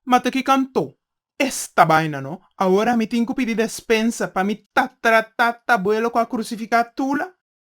Ma ta ki kantó esta baina no. Awor ami tin ku pidi despensa pa mi ta tratá ta buelo ku a krusifiká Tula?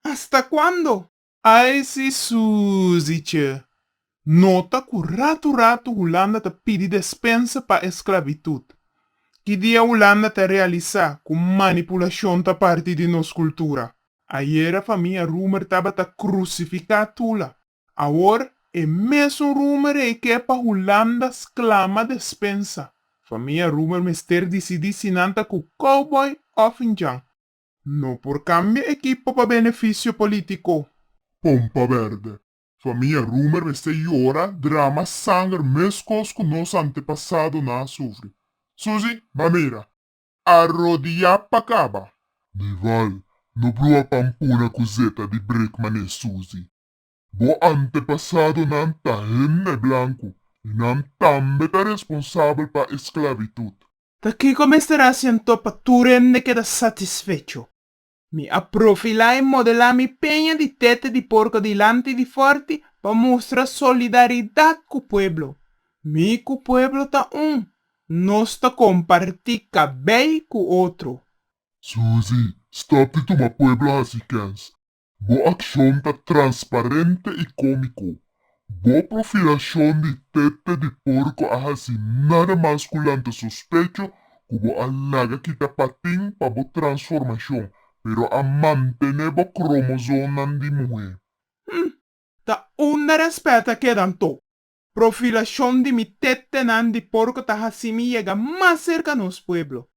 Hasta kuando? Ai si Susi che nota ku ratu ratu Hulanda ta pidi despensa pa esklavitut. Ki dia Hulanda ta realisá ku manipulashon ta parti di nos kultura? Ayera famia Roemer tabata krusifiká Tula. Awor e mesun Roemer ei ke pa Hulanda sklama despensa. Famia Roemer mester disidí si nan ta ku Cowboy òf Njan. No por kambia ekipo pa benefisio polítiko. Pompa bèrdè. Famia Roemer mester yora, drama, sanger, meskos ku nos antepasadonan a sufri. Susi, Ba mira! A rodiá pa kaba! Nival, No bruha pampuna ku zeta di brekma ne Susi. Bo antepasadonan ta hende blanku i nan tambe ta responsabel pa e sklavitud. Ta kiko mester hasi anto pa tur hende keda satisfecho? Mi a profilá i modelá mi peña di tete di porko dilanti di fòrti pa mustra solidaridat ku pueblo. Mi ku pueblo ta un, nos ta kompartí kabei ku otro. Suzy, stòp di tuma pueblo hasi kèns. Bo akshon ta transparente i kómiko. Bo profilashon di tete di porko a hasi nada mas ku lanta sospecho ku bo a laga kita patin pa bo transformashon, pero a mantené bo kromosomnan di muhé. Hm! Ta unda rèspèt a keda anto? Profilashon di mi tetenan di porko ta hasi mi yega mas serka nos pueblo.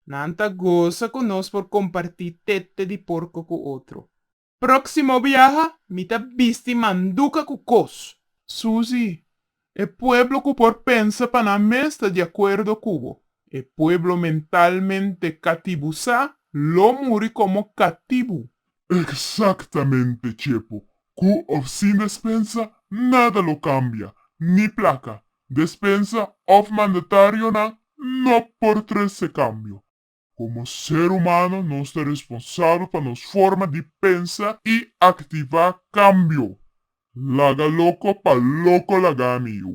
Nan ta gosa ku nos por kompartí tete di porko ku otro. Próksimo biaha mi ta bisti manduka ku kos. Susi, E pueblo ku por pensa pa nan mes ta di akuerdo ku bo. E pueblo mentalmente katibusá lo muri komo katibu. Eksaktamente, Chepo. Ku òf sin despensa nada lo kambia, ni plaka, despensa òf mandatarionan no por trese kambio. Komo ser humano nos ta responsabel pa nos forma di pensa i aktivá kambio. Laga loko pa loko lagá mi yu.